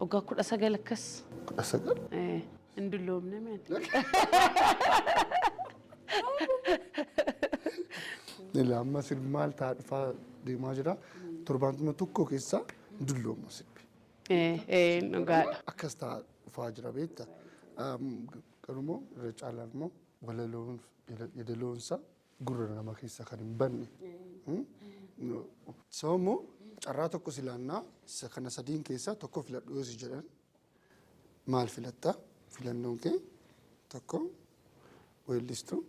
Waggaa kudha sagal akkas. Kudha sagal. Eh, Hin dulloomne mee ati. Ila amma sirbi maal ta'a dhufaa deemaa jira. Torbaantuma tokko keessaa hin dulloomma sirbi. Eh, eh, dhugaadha. Akkas ta'a dhufaa jira beekta. Am, Garumoo irra caalaan immoo walaloon yadaloonsa gurra nama keessaa kan hin banne. Sababa immoo carraa tokko si laannaa isa kana sadiin keessaa tokko filadhu yoo si jedhan maal filatta? Filannoon kee tokko weellistuu,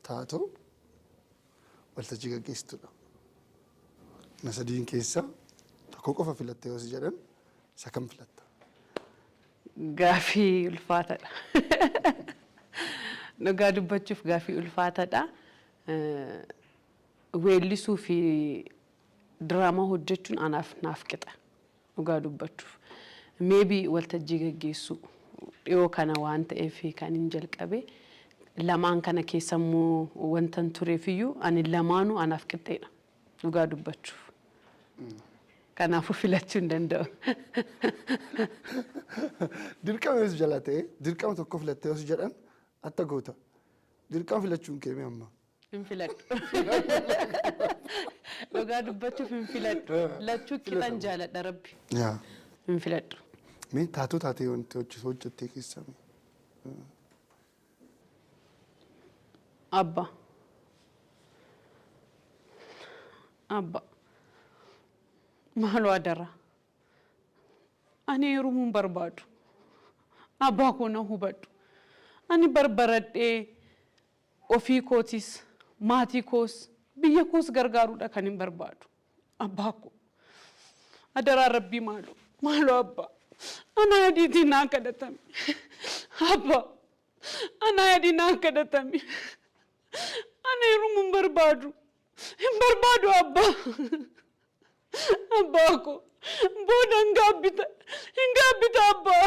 taatoo, waltajjii gaggeessituudha. Kana sadiin keessaa tokko qofa filatta yoo si jedhan isa kam filatta? Gaafii ulfaatadha. Dhugaa dubbachuuf gaafii ulfaatadha. Weellisuu fi diraamaa hojjechuun anaaf naaf qixa. Dhugaa dubbachuuf. Maybe waltajjii gaggeessuu dhiyoo kana waan ta'eef kanin jalqabe. Lamaan kana keessammoo wantan tureefiyyuu ani lamaanuu anaaf qixxeedha. Dhugaa dubbachuuf. Kanaafuu filachuu hin danda'u. Dirqama yoo si jala ta'e dirqama tokko filattee yoo si jedhan atta goota. Dirqama filachuun kee mee amma. Hin filadhu. Dhugaa dubbachuuf hin filadhu. Lachuu qixan jaaladha rabbi. Yaa. Hin filadhu. Mee taatoo taatee wanti hojjetu hojjettee keessaa mee. Abba. Abba. Maaloo adaraa. Ani heerumuun barbaadu. Abbaa koo na hubadhu. Ani barbaradhee ofii kootis, maatii koos, biyya koos gargaaruudha kanin barbaadu. Abbaa koo adaraa rabbii maaloo maaloo abbaa anaa yadiitii naa kadhatami abbaa anaa yadii naa kadhatami ana heerumu hin barbaadu hin barbaadu abbaa abbaa koo booda hin gaabbita hin gaabbita abbaa.